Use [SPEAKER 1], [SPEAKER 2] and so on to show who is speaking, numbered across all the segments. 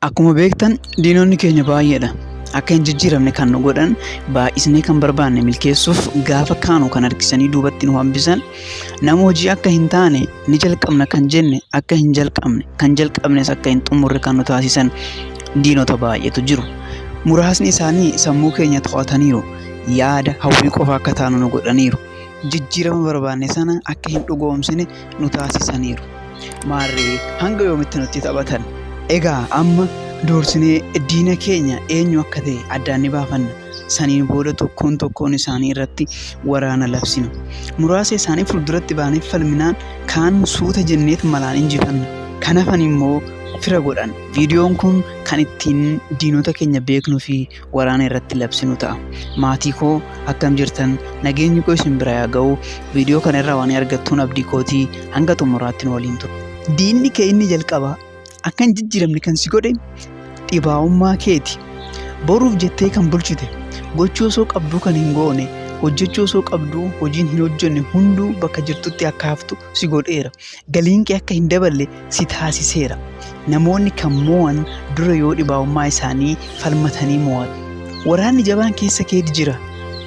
[SPEAKER 1] Akkuma beektan diinonni keenya baay'eedha. Akka hin jijjiiramne kan nu godhan baay'isnee kan barbaanne milkeessuuf gaafa kaanu kan harkisanii duubatti nu hambisan nama hojii akka hin taane ni jalqabna kan jenne akka hin jalqabne kan jalqabnes akka hin xumurre kan nu taasisan diinota baay'eetu jiru. Muraasni isaanii sammuu keenya to'ataniiru. Yaada hawwii qofa akka taanu nu godhaniiru. Jijjiirama barbaanne sana akka hin dhugoomsine nu taasisaniiru. Maarree hanga yoomitti nutti taphatan? Egaa amma duursinee diina keenya eenyu akka ta'e addaan ni baafanna. Saniin booda tokkoon tokkoon isaanii irratti waraana labsina. Muraasa isaanii fuulduratti baanee falminaan kaan suuta jenneet malaan injifanna. Kan hafan immoo fira godhan. Viidiyoon kun kan ittiin diinota keenya beeknuu fi waraana irratti labsinu ta'a. Maatii koo akkam jirtan nageenyi koo isin bira yaa ga'u viidiyoo kana irraa waan argattuun abdii kootii hanga xumuraatti nu waliin ture. Diinni kee inni jalqabaa akka hin jijjiiramne kan si godhe dhibaa'ummaa keeti. Boruuf jettee kan bulchite gochuu osoo qabduu kan hin goone hojjechuu osoo qabduu hojiin hin hojjenne hunduu bakka jirtutti akka haftu si godheera. Galiin kee akka hin daballe si taasiseera. Namoonni kan moo'an dura yoo dhibaa'ummaa isaanii falmatanii moo'atu. Waraanni jabaan keessa keeti jira.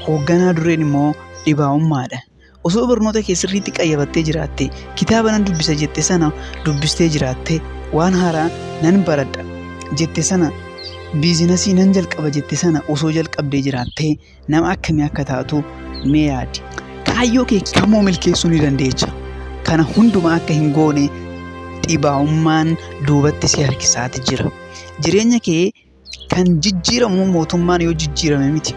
[SPEAKER 1] Hoogganaa dureen immoo dhibaa'ummaadha. Osoo barnoota kee sirriitti qayyabattee jiraatte, kitaaba nan dubbisa jette sana dubbistee jiraatte, waan haaraa nan baradha jette sana, biizinasii nan jalqaba jette sana osoo jalqabdee jiraattee, nama akkamii akka taatu mee yaadi. Kaayyoo kee kamuu milkeessuu ni dandeecha. Kana hundumaa akka hin goone dhibaa'ummaan duubatti si harkisaati jira. Jireenya kee kan jijjiiramu mootummaan yoo jijjiirame miti.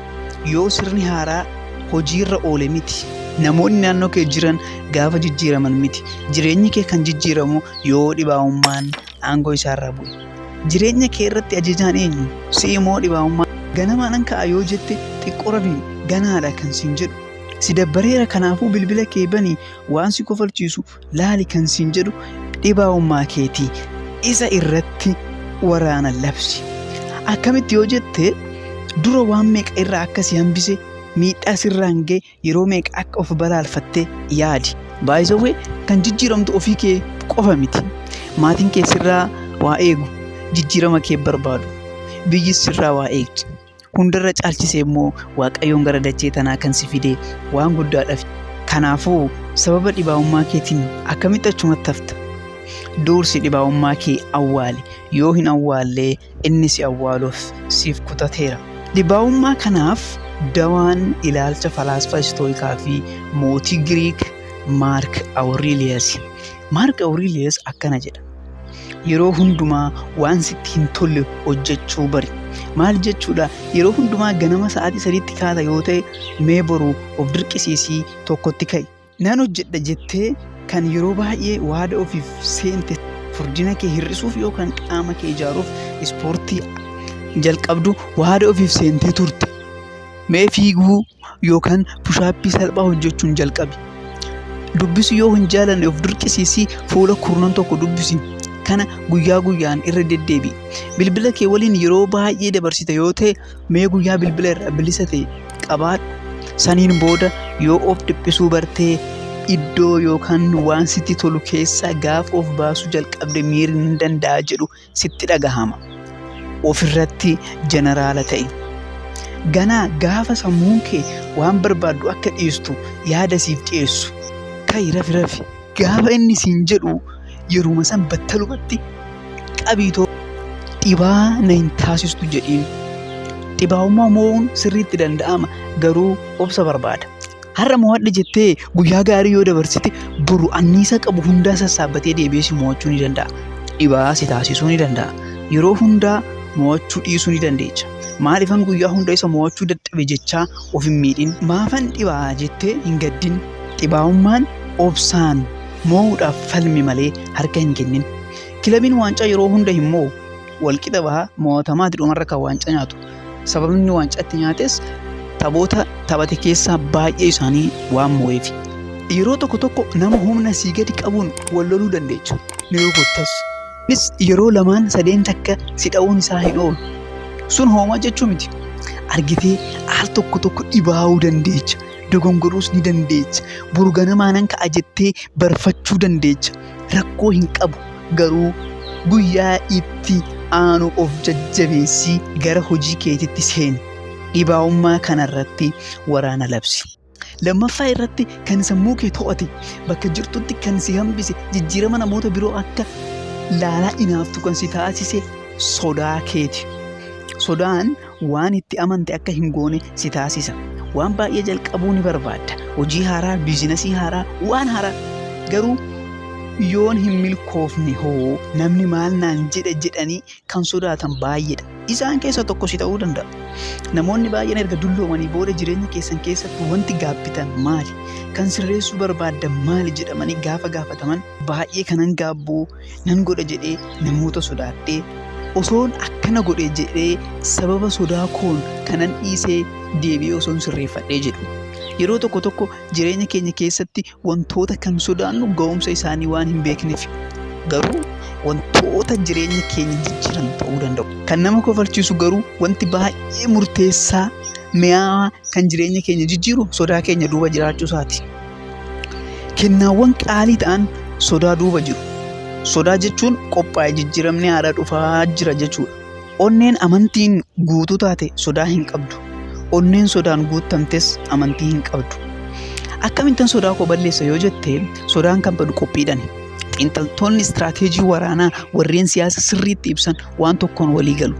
[SPEAKER 1] Yoo sirni haaraa hojiirra oole miti. Namoonni naannoo kee jiran gaafa jijjiiraman miti. Jireenyi kee kan jijjiiramu yoo dhibaa'ummaan aangoo isaarraa bu'e. Jireenya kee irratti ajajaan eenyu? Si'i moo dhibaa'ummaa? Ganamaa nan ka'a yoo jette xiqqoo rafi ganaadha kan siin jedhu. Si dabbareera kanaafuu bilbila kee banii waan si kofalchiisu laali kan siin jedhu dhibaa'ummaa keeti. Isa irratti waraana labsi. Akkamitti yoo jette dura waan meeqa irraa akka si hambise miidhaa sirraan ga'e yeroo meeqa akka of balaalfattee yaadi. Baay'isawwee kan jijjiiramtu ofii kee qofa miti. Maatiin kee sirraa waa eegu, jijjiirama kee barbaadu. Biyyis sirraa waa eegdi. Hundarra caalchisee immoo Waaqayyoon gara dachee tanaa kan si fide waan guddaadhaaf. Kanaafuu sababa dhibaa'ummaa keetiin akkamitti achumatti hafta? Duursi dhibaa'ummaa kee awwaali. Yoo hin awwaallee inni si awwaaluuf siif kutateera. Dhibaa'ummaa kanaaf dawaan ilaalcha falaasfaa Istooyikaa fi mootii Giriik Maark Awuriiliyasi. Maark Awuriiliyas akkana jedha. Yeroo hundumaa waan sitti hin tolle hojjechuu bari. Maal jechuudha? Yeroo hundumaa ganama sa'aatii sadiitti kaata yoo ta'e mee boru of dirqisiisii tokkotti ka'i. Nan hojjedha jettee kan yeroo baay'ee waada ofiif seente furdina kee hir'isuuf yookaan qaama kee ijaaruuf ispoortii jalqabdu waada ofiif seentee turte. Mee fiiguu yookaan pushaappii salphaa hojjechuun jalqabi. Dubbisu yoo hin jaalanne of dirqisiisii fuula kurnan tokko dubbisi. Kana guyyaa guyyaan irra deddeebi'i. Bilbila kee waliin yeroo baay'ee dabarsita yoo ta'e mee guyyaa bilbila irraa bilisa ta'e qabaadhu saniin booda yoo of dhiphisuu bartee iddoo yookaan waan sitti tolu keessaa gaafa of baasuu jalqabde miirri ni danda'a jedhu sitti dhagahama ofirratti jeneraala ta'e ganaa gaafa sammuun kee waan barbaaddu akka dhiistu yaada siif dhiyeessu ka'i rafi rafi Gaafa inni siin jedhu yeruma san battalumatti qabiitoo dhibaa na hin taasistu jedhiin. Dhibaa'ummaa moo'uun sirriitti danda'ama garuu obsa barbaada. Har'a moo'adha jettee guyyaa gaarii yoo dabarsite boru anniisa qabu hundaa sassaabbatee deebi'ee si moo'achuu ni danda'a. Dhibaa si taasisuu ni danda'a. Yeroo hundaa moo'achuu dhiisuu ni dandeecha. Maaliifan guyyaa hunda isa moo'achuu dadhabe jechaa of hin miidhin. Maafan dhibaa jettee hin gaddin. Dhibaa'ummaan obsaan moo'uudhaaf falmi malee harka hin kennin. Kilabiin waancaa yeroo hunda hin moo'u. Walqixa baha moo'atamaa dhumarra kan waancaa nyaatu. Sababni waancaa itti nyaates taphoota taphate keessaa baay'ee isaanii waan moo'eef. Yeroo tokko tokko nama humna sii gadi qabuun wal loluu dandeechu. Ni rukuttas. Innis yeroo lamaan sadeen takka si dha'uun isaa hin oolu. Sun hoomaa jechuu miti. Argitee al tokko tokko dhibaa'uu dandeecha. dogongoruus ni dandeecha. Boru ganamaa nan ka'a jettee barfachuu dandeecha. Rakkoo hin qabu garuu guyyaa itti aanu of jajjabeessii gara hojii keetitti seeni. Dhibaa'ummaa kanarratti waraana labsi. Lammaffaa irratti kan sammuu kee to'ate bakka jirtutti kan si hambise jijjiirama namoota biroo akka laalaa inaaftu kan si taasise sodaa keeti. Sodaan Waan itti amante akka hin goone si taasisa. Waan baay'ee jalqabuu ni barbaadda. Hojii haaraa, biizinasii haaraa, waan haaraa. Garuu yoon hin milkoofne hoo namni maal naan jedha jedhanii kan sodaatan baay'eedha. Isaan keessa tokko si ta'uu danda'a. Namoonni baay'een erga dulloomanii booda jireenya keessan keessatti wanti gaabbitan maali? Kan sirreessuu barbaaddan maali jedhamanii gaafa gaafataman baay'ee kanan gaabbuu nan godha jedhee namoota sodaadhee osoon akkana godhe jedhee sababa sodaa koon kanan dhiisee deebi'ee osoon sirreeffadhee jedhu. Yeroo tokko tokko jireenya keenya keessatti wantoota kan sodaannu ga'umsa isaanii waan hin beekneef garuu wantoota jireenya keenya jijjiiran ta'uu danda'u. Kan nama kofalchiisu garuu wanti baay'ee murteessaa mi'aawaa kan jireenya keenya jijjiiru sodaa keenya duuba jiraachuu isaati. Kennaawwan qaalii ta'an sodaa duuba jiru. Sodaa jechuun qophaa'e jijjiiramni haadha dhufaa jira jechuudha. Onneen amantiin guutuu taate sodaa hin qabdu. Onneen sodaan guuttamtes amantii hin qabdu. Akkamittan sodaa koo balleessa yoo jette sodaan kan badu qophiidhani. Xiinxaltoonni istiraateejii waraanaa warreen siyaasa sirriitti ibsan waan tokkoon walii galu.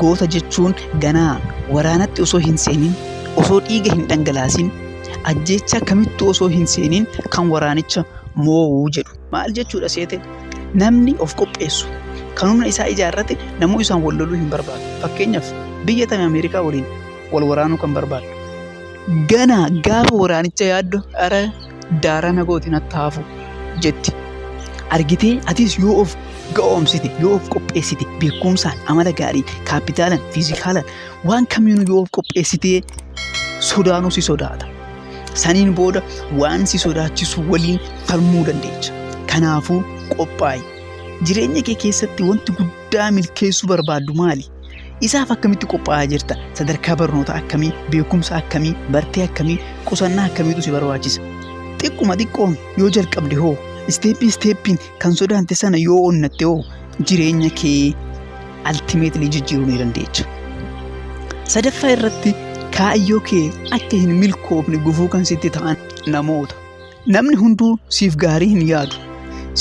[SPEAKER 1] Goota jechuun ganaa waraanatti osoo hin seenin, osoo dhiiga hin dhangalaasin, ajjeechaa kamittuu osoo hin seenin kan waraanicha moo'u jedhu. Maal jechuudha seete? Namni of qopheessu, kan humna isaa ijaarrate namuu isaan wal loluu hin barbaadu. Fakkeenyaaf biyya tame Ameerikaa waliin wal waraanuu kan barbaaddu. Ganaa gaafa waraanicha yaaddu ara Daaraa na goote natti haafu jetti. Argitee atis yoo of ga'oomsite yoo of qopheessite beekumsaan amala gaariin kaappitaalaan fiizikaalaan waan kamiinuu yoo of qopheessitee sodaanuu si sodaata. Saniin booda waan si sodaachisu waliin falmuu dandeecha. Kanaafuu qophaa'i. Jireenya kee keessatti wanti guddaa milkeessuu barbaaddu maali? Isaaf akkamitti qophaa'aa jirta? Sadarkaa barnoota akkamii, beekumsa akkamii, bartee akkamii, qusannaa akkamiitu si barbaachisa? Xiqquma xiqqoon yoo jalqabde hoo isteeppii isteeppiin kan sodaante sana yoo onnatte hoo jireenya kee altimeetilii jijjiiruu ni dandeecha. Sadaffaa irratti kaayyoo kee akka hin milkoofne gufuu kan sitti ta'an namoota. Namni hunduu siif gaarii hin yaadu.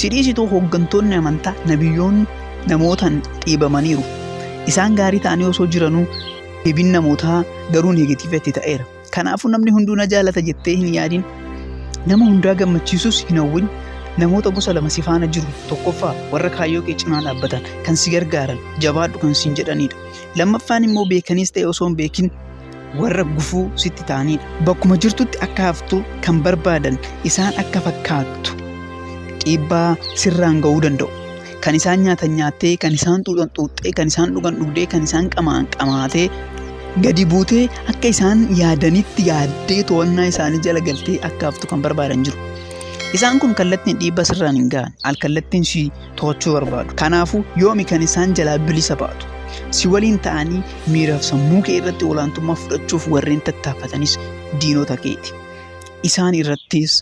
[SPEAKER 1] Si dhiisituu hooggantoonni amantaa nabiyyoonni namootaan dhiibamaniiru. Isaan gaarii ta'anii osoo jiranuu deebiin namootaa garuu neegatiivatti ta'eera. Kanaafuu namni hunduu na jaalata jettee hin yaadin. Nama hundaa gammachiisus hin hawwin. Namoota gosa lama si faana jiru. Tokkoffaa warra kaayyoo kee cinaa dhaabbatan kan si gargaaran jabaadhu kan siin jedhanidha. Lammaffaan immoo beekaniis ta'e osoo hin beekin warra gufuu sitti ta'aniidha. Bakkuma jirtutti akka haftu kan barbaadan isaan akka fakkaattu dhiibbaa sirraan ga'uu danda'u. Kan isaan nyaatan nyaattee, kan isaan xuuxan xuuxxee, kan isaan dhugan dhugdee, kan isaan qamaan qamaatee gadi buutee akka isaan yaadanitti yaaddee to'annaa isaanii jala galtee akka haftu kan barbaadan jiru. Isaan kun kallattiin dhiibbaa sirraan hin ga'an. Al kallattiin si to'achuu barbaadu. Kanaafuu yoomi kan isaan jalaa bilisa baatu. Si waliin ta'anii miiraaf sammuu kee irratti olaantummaa fudhachuuf warreen tattaafatanis diinota keeti. Isaan irrattis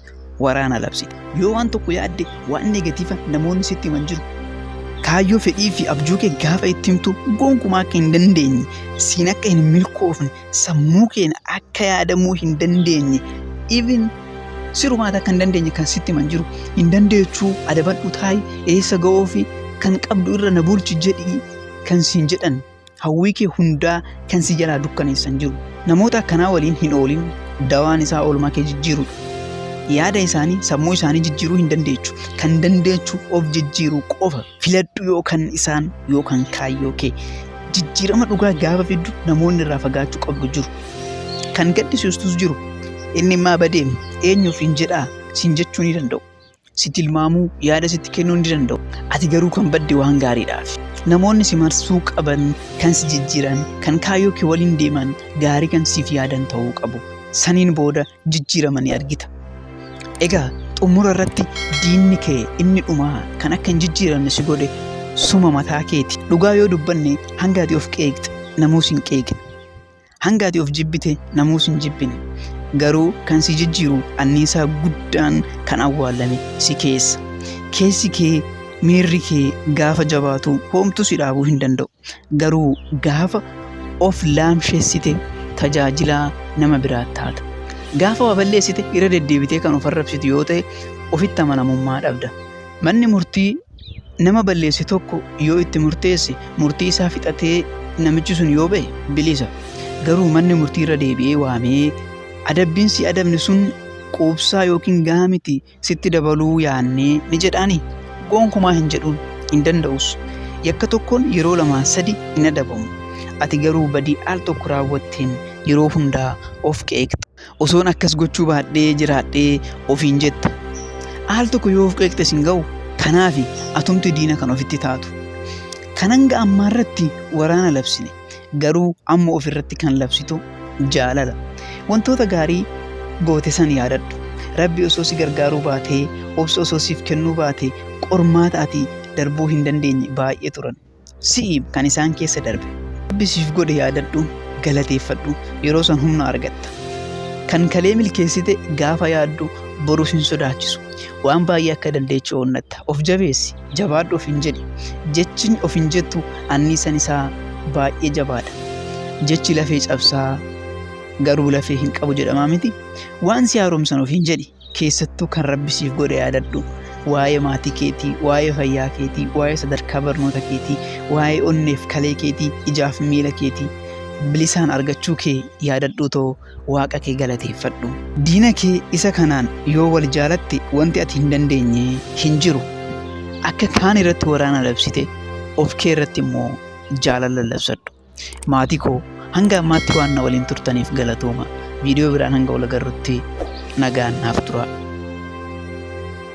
[SPEAKER 1] waraana labsita. Yoo waan tokko yaadde waan negatiiva namoonni sitti himan jiru. Kaayyoo fedhii fi abjuu kee gaafa itti himtu gonkumaa akka hin dandeenye siin akka hin milkoofne sammuu keenya akka yaadamuu hin dandeenye even sirumaata akka hin dandeenye kan sitti himan jiru hin dandeechuu adabadhu taa'i eessa ga'oo fi kan qabdu irra na bulchi jedhi kan siin jedhan hawwii kee hundaa kan si jalaa dukkaneessan jiru namoota akkanaa waliin hin oolin dawaan isaa oolmaa kee jijjiiru yaada isaanii sammuu isaanii jijjiiruu hin dandeechu kan dandeechu of jijjiiruu qofa filadhu yoo kan isaan yoo kan kaayyoo kee jijjiirama dhugaa gaafa fiddu namoonni irraa fagaachuu qabdu jiru kan gaddisiistus jiru inni immaa badee eenyuuf hin jedhaa siin jechuu ni danda'u si tilmaamuu yaada sitti kennuu ni danda'u ati garuu kan badde waan gaariidhaaf namoonni si marsuu qaban kan si jijjiiran kan kaayyoo kee waliin deeman gaarii kan siif yaadan ta'uu qabu saniin booda jijjiirama ni argita. Egaa xumura irratti diinni kee inni dhumaa kan akka hin jijjiiramne si godhe suma mataa keeti. Dhugaa yoo dubbanne hanga ati of qeeqxe namuus hin qeeqne. Hanga ati of jibbite namuus hin jibbine. Garuu kan si jijjiiru anniisaa guddaan kan awwaallame si keessa. Keessi kee miirri kee gaafa jabaatu hoomtu si dhaabuu hin danda'u. Garuu gaafa of laamshessite tajaajilaa nama biraa taata. Gaafa waa balleessite irra deddeebitee kan of arrabsitu yoo ta'e ofitti amanamummaa dhabda. Manni murtii nama balleesse tokko yoo itti murteesse murtii isaa fixatee namichi sun yoo ba'e bilisa. Garuu manni murtii irra deebi'ee waamee adabbiin si adabne sun quubsaa yookiin gahaa miti sitti dabaluu yaannee ni jedhaani? Gonkumaa hin jedhuun, hin danda'us. Yakka tokkoon yeroo lamaa sadi hin adabamu. Ati garuu badii al tokko raawwatteen yeroo hundaa of qeeqxa. Osoon akkas gochuu baadhee jiraadhee ofiin jetta. Al tokko yoo of qeeqxe sin ga'u kanaafi atumti diina kan ofitti taatu. Kan hanga ammaarratti waraana labsine garuu amma of irratti kan labsitu jaalala wantoota gaarii goote san yaadadhu rabbi osoo si gargaaruu baatee obsa osoo siif kennuu baate qormaata ati darbuu hin dandeenye baay'ee turan si'i kan isaan keessa darbe rabbi siif godhe yaadadhu galateeffadhu yeroo san humna argatta kan kalee milkeessite gaafa yaaddu boruuf hin sodaachisu waan baay'ee akka dandeechu onnatta of jabeessi Jabaadhu ofiin jedhi. Jechin ofiin jettu anniisan isaa baay'ee jabaadha. Jechi lafee cabsaa garuu lafee hin qabu jedhamaa miti. Waan si haaromsan ofiin jedhi. Keessattuu kan rabbi siif godhe yaadadhu. Waa'ee maatii keetii, waa'ee fayyaa keetii, waa'ee sadarkaa barnoota keetii, waa'ee onneef kalee keetii, ijaaf miila keetii bilisaan argachuu kee yaadadhuu too Waaqa kee galateeffadhu. Diina kee isa kanaan yoo wal jaalatte wanti ati hin dandeenye hin jiru. Akka kaan irratti waraana labsite of kee irratti immoo jaalala labsadhu. Maatii koo hanga ammaatti waan na waliin turtaniif galatooma. Viidiyoo biraan hanga wal agarrutti nagaan naaf turaa.